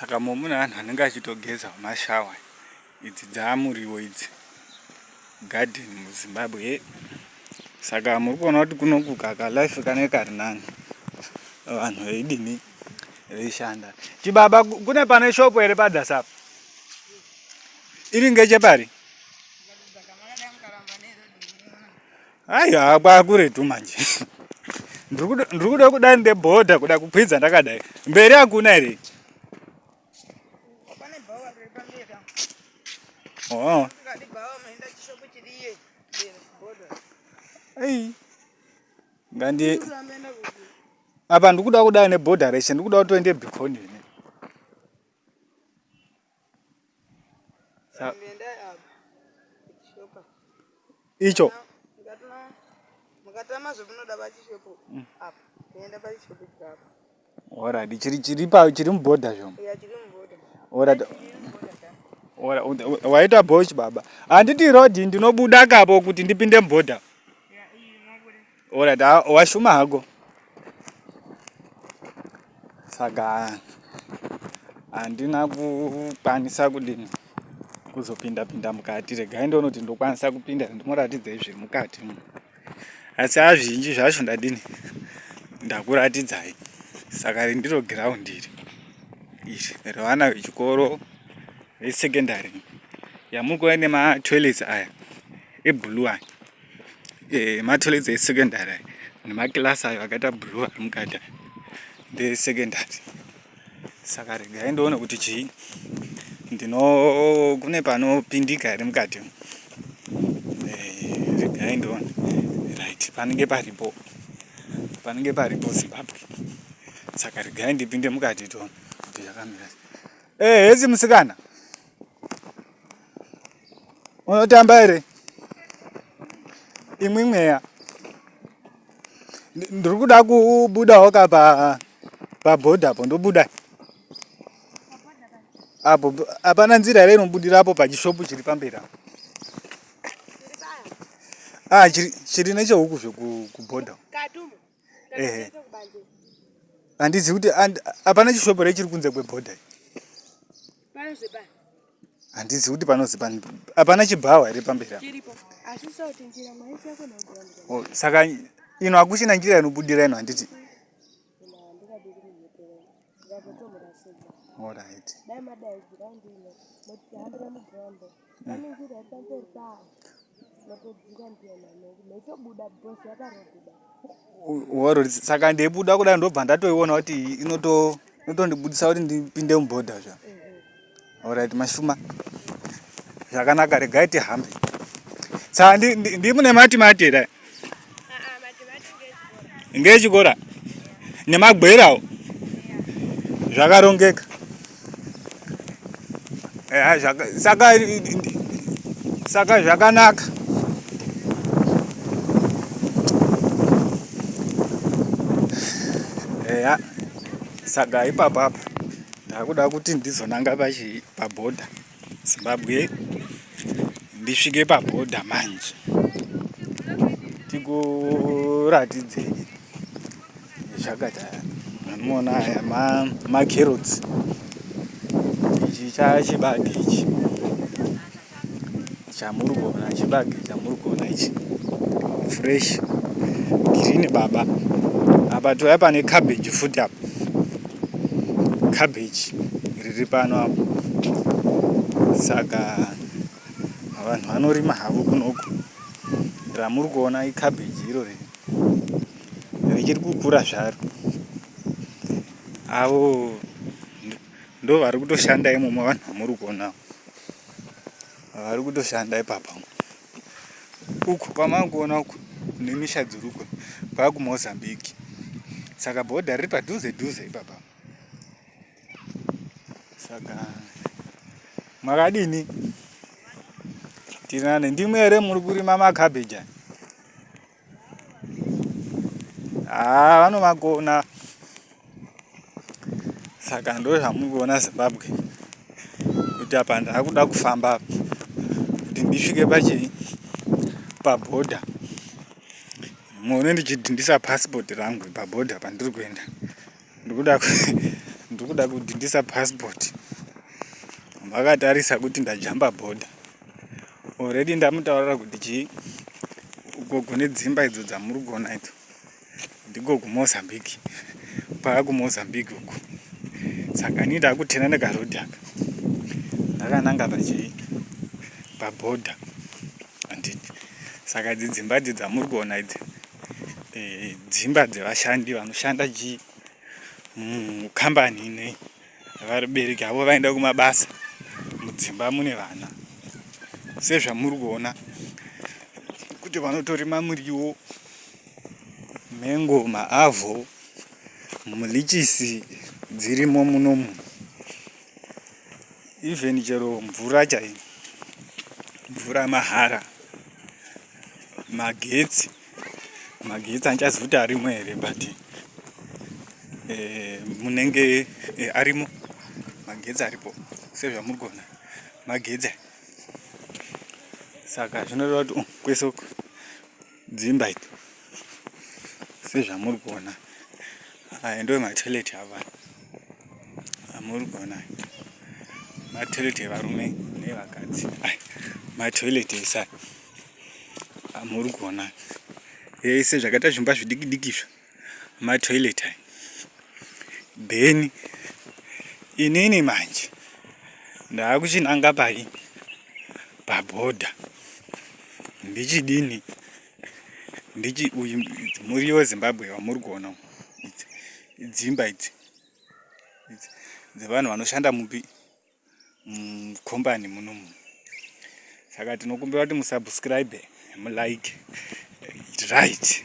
saka momune vanhu vanenge vachitogeza mashawa idzi dzaamuriwo idzi garden muzimbabwe ye saka muri kuona kuti kunokuka kalife kane kari nani vanhu veidini veishanda chibaba kune pane shopo here padhasapa iri ngechepari Aiwa kwakuretu manje. Ndiri kuda kuda nde border kuda kukwidza ndakadai. Mberi hakuna here? Oh. Hey. Ngandi apa ndikuda kuda ne border reshe ndikuda kutoende bikoni. icho mukatama zvamunoda pachishopo mm. apa kuenda pachishopo chapa ora chiri chiri pa chiri muboda zvomo ya chiri muboda ora ora waita bosh baba handiti road ndinobuda kapo kuti ndipinde muboda Alright, ah, washuma hako. Saka handina kukwanisa kudini kuzopinda pinda mukati. Regai ndonoti ndokwanisa kupinda ndimoratidza izvi mukati. Asi azvinji zvacho ndadini ndakuratidzai. Saka rindiro ground iri. Iri revana vechikoro vesecondary. Yamuri kuona nema toilets aya eblue aya. eh, matoilets esecondary nemakilasi ayo akaita blue ari mukati ndesecondary saka regai ndoona kuti chii ndino kune panopindika here mukati eh, regai ndoona right panenge paripo panenge paripo zimbabwe saka regai ndipinde mukati toona kuti yakamira eh, hesi musikana unotamba here imwe mweya ndiri kuda kubudawo ka pabhodha apo ndobuda apo hapana nzira here inobudira apo pachishopu chiri pamberi apo ah chiri nechehuku zvekubhodha ehe handizivi kuti hapana chishopu here chiri kunze kwebhodha handizi kuti panozi hapana chibhawa here pamberi oh, saka ino hakuchina njira inobudira ino handiti orit Waro saka ndeibuda kuda ndobva ndatoiona kuti inoto inotondibudisa kuti ndipinde mubhodha zva. Alright mashuma. Zvakanaka regai tihambe. Saka ndi ndi mune mati mati here? ngechikora nemagwerawo zvakarongeka eh, saka saka zvakanaka eya saka ipapa apa ndakuda kuti ndizonanga pachi pabhodha pa Zimbabwe ndisvike pabhodha manje tikuratidzei zvakadai anoona aya macarrots ichi chachibage ichi Chamuri kuona chibage chamuri kuona ichi fresh green baba. Apa toya pane cabbage futi apa. Cabbage riri pano apa. Saka vanhu vanorima havo kunoku. Ramuri kuona icabbage iro riri. Richiri kukura zvaro. Avo ndo vari kutoshanda imomo vanhu vamuri kuona. vari kutoshanda ipapa uku kwamava kuona uku nemisha dzirukwe kwava kumozambique saka bhodha riri padhuze dhuze ipapa saka makadini tirinane ndimwe here muri kurima makabheji haa ah, vanovagona saka ndo zvamuri kuona zimbabwe kuti apa ndaakuda kufamba apa kuti ndisvike pachii pabhodha muone ndichidhindisa pasipoti rangu pabhodha pandiri kuenda ndikuda ndikuda kudhindisa passport vakatarisa kuti ndajamba bhodha already ndamutaurira kuti chii uko kune dzimba idzo dzamuri kuona idzo ndiko kumozambique pava kumozambique uko saka ini ndakutena nekarodi aka ndakananga pachii pabhodha anditi saka dzidzimba dzi dzamuri kuona idzi eh, dzimba dzevashandi vanoshanda ji mukambani ine vabereki avo vaenda kumabasa mudzimba mune vana sezvamuri kuona kuti vanotorima muriwo mengo maavho mulichisi dzirimo munomu even chero mvura chai mvura mahara magetsi magetsi handichazi kuti arimo here but eh, munenge eh, arimo magetsi aripo sezvamuri kuona magetsi saka zvinoreva kuti um, kwese uku dzimba iti sezvamuri kuona aya ndo matoilet ava amuri kuona matoilet evarume nevakadzi matoilet esai muri kuona yese zvakaita zvimba zvidiki diki izvo matoilet ayi then inini manje ndaakuchinanga pai pabhodha ndichidini ndichi uyu mhuri yezimbabwe vamuri kuona dzimba idzi dzevanhu vanoshanda mupi mukombani munomu saka tinokumbira kuti musubscribe mulike right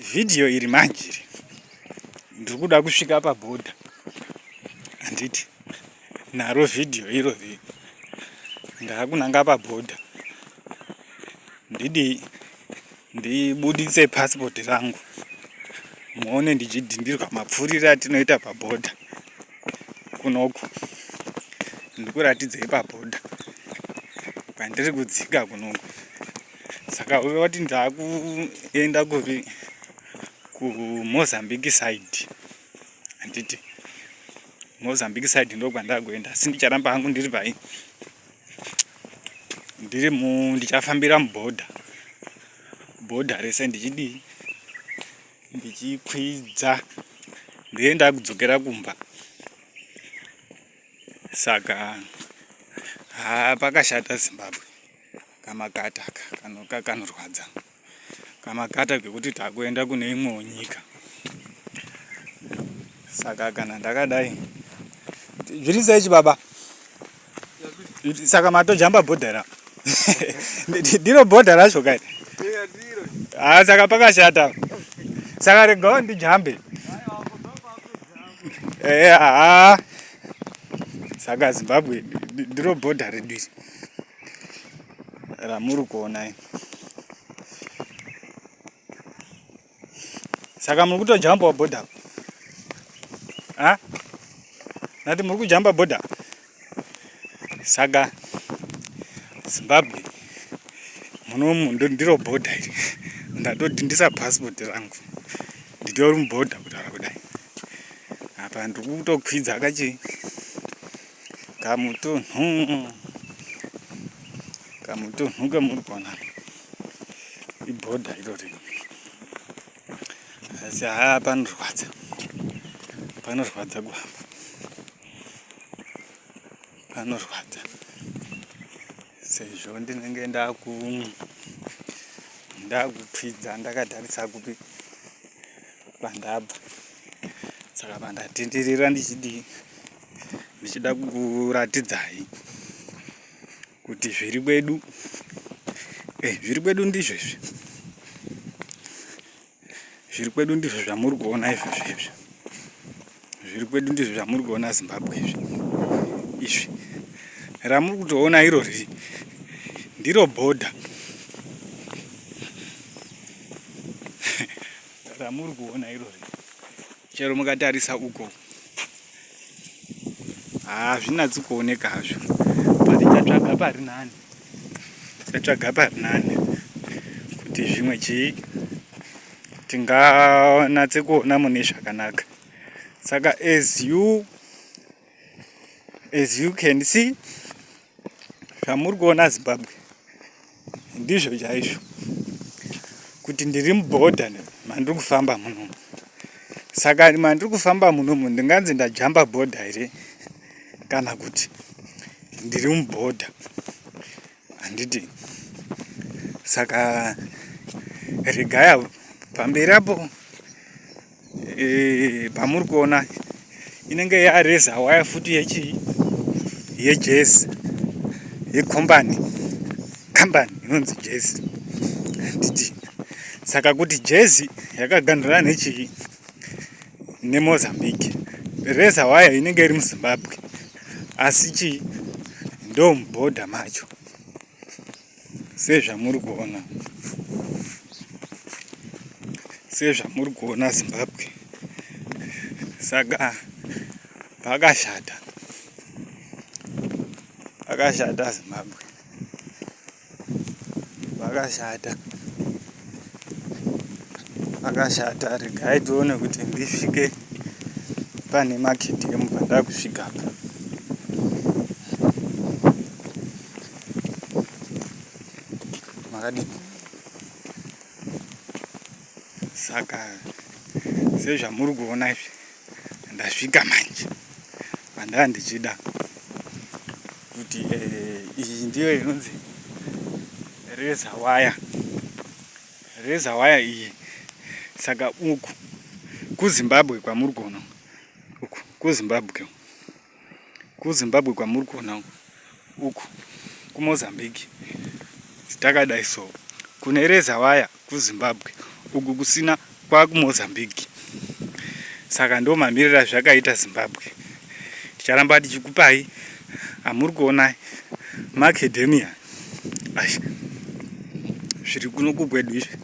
vhidhiyo iri manje iri ndiri kuda kusvika pabhodha handiti naro vhidhiyo iro ri ndaakunanga pabhodha ndidii ndibuditse passport rangu muone ndichidhindirwa mapfurire atinoita pabhodha kunoku ndikuratidzei pabhodha pandiri kudzika kunoku saka uve wati ndakuenda kupi kumozambique side handiti mozambique side ndokwandakuenda asi ndicharamba hangu ndiri pai ndiri mu ndichafambira mubhodha bhodha rese ndichidii ndichikwidza ndiye ndakudzokera kumba saka haa pakashata zimbabwe kamakataka kanorwadza kamakata kekuti takuenda kune imwewo nyika saka kana ndakadai zviri sei chibaba saka matojamba bhodha ra ndiro bhodha racho kai haa ah, saka pakashata saka regawo ndijambe ehe haa saka zimbabwe ndiro bhodha redu iri ramuri kuona ini saka muri kutojambawo bhodha a nati muri kujamba bhodha saka zimbabwe munomu ndiro bhodha iri ndatodhindisa passport rangu nditori mubhodha kutaura kudai apa ndiri kutokwidza kachi kamutunhu kamutunhu kamuri kuona ibhodha irori asi haa panorwadza panorwadza kuhamba panorwadza sezvo ndinenge ndaku ndakupfidza ndakatarisa kupi pandabva saka pandatenderera ndichidii ndichida kukuratidzai kuti zviri kwedu eh, zviri kwedu ndizvo izvi zviri kwedu ndizvo zvamuri kuona izvozvo izvi zviri kwedu ndizvo zvamuri kuona zimbabwe izvi izvi ramuri kutoona iro riri ndiro bhodha ramuri kuona irori chero mukatarisa uko hazvinatsi kuoneka hazvo but chatsvaga pari nani chatsvaga pari nani kuti zvimwe chii tinganatse kuona mune zvakanaka saka as you as you can see zvamuri kuona zimbabwe ndizvo chaizvo kuti ndiri muboda mandiri kufamba muno saka mandiri kufamba munomu ndinganzi ndajamba bhodha here kana kuti ndiri mubhodha handiti saka regai apo pamberi apo eh, pamuri kuona inenge yareza waya futi yechii yejezi yekombani kambani inonzi jezi handiti saka kuti jezi yakaganhura nechii nemozambique reza waya inenge iri muzimbabwe asi chii ndomubhodha macho sezvamuri kuona sezvamuri kuona zimbabwe saka pakashata pakashata zimbabwe pakashata pakashata regai tione kuti ndisvike pane makiti emupa ndakusvika pa makadini saka sezvamuri kuona izvi ndasvika manje pandaa ndichida kuti eh, iyi ndiyo inonzi reza waya reza waya iyi saka uku kuzimbabwe kwamuri kuona uku kuzimbabwe kuzimbabwe kwamuri kuona uku kumozambique takadai so kune reza waya kuzimbabwe uku kusina kwakumozambique saka ndo mamirira zvakaita zimbabwe ticharamba tichikupai amuri kuona maacademia zviri kuno kukwedu izvi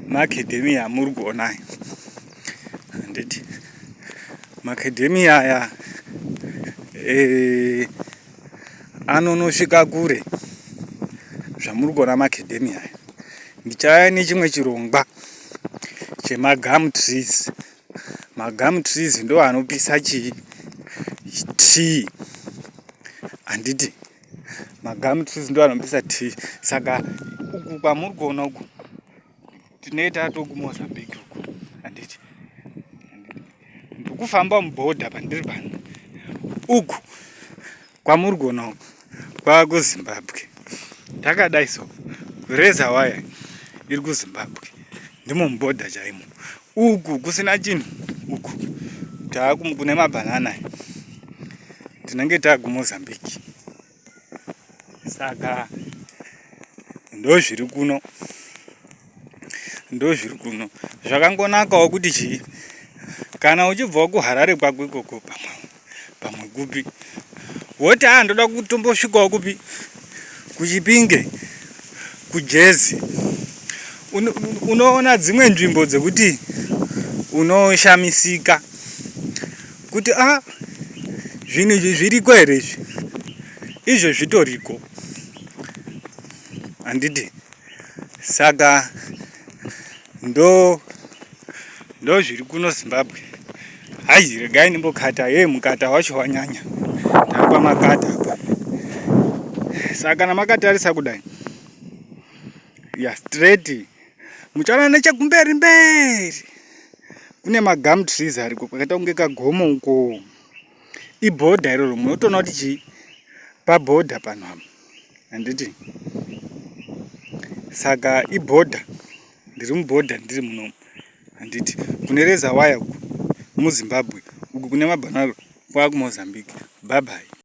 maacademy amuri kuona aya handiti maacademy aya eh, anonosvika kure zvamuri kuona maacademy aya ndichaya nechimwe chirongwa chemagum trees magum trees ndo anopisa chii tea handiti Magum trees ndo anobisa tea. Saka uku kwamuri kuona uku tinoita toku Mozambique uku. Handiti. Ndikufamba muborder pandiri pano. Uku kwamuri kuona uku kwava kuZimbabwe. Takadai so kureza waya iri kuZimbabwe. Ndimo muborder chaimo. Uku kusina chinhu uku taakumu kune mabhanana tinenge takumozambique saka ndozviri kuno ndozviri kuno zvakangonakawo kuti chii kana uchibvawo kuharare kwako ikoko pamwe pamwe kupi woti haa ndoda kutombosvikawo kupi kuchipinge kujezi unoona dzimwe nzvimbo dzekuti unoshamisika kuti a ah, zvinhu izvi zviriko here izvi izvo zvitoriko handiti saka ndo ndo zviri kuno zimbabwe hayi regai ndimbokata ye mukata wacho wanyanya tapa makata apa saka kana makatarisa kudai ya straight muchaona nechekumberi mberi kune magum trees ariko kwakaita kunge kagomo uko ibhodha iroro munotoona kuti chii pabhodha pano apa handiti saka ibhodha ndiri mubhodha ndiri munomu handiti kune reza waya uku muzimbabwe uku kune mabanaro kwakumozambique bhabhai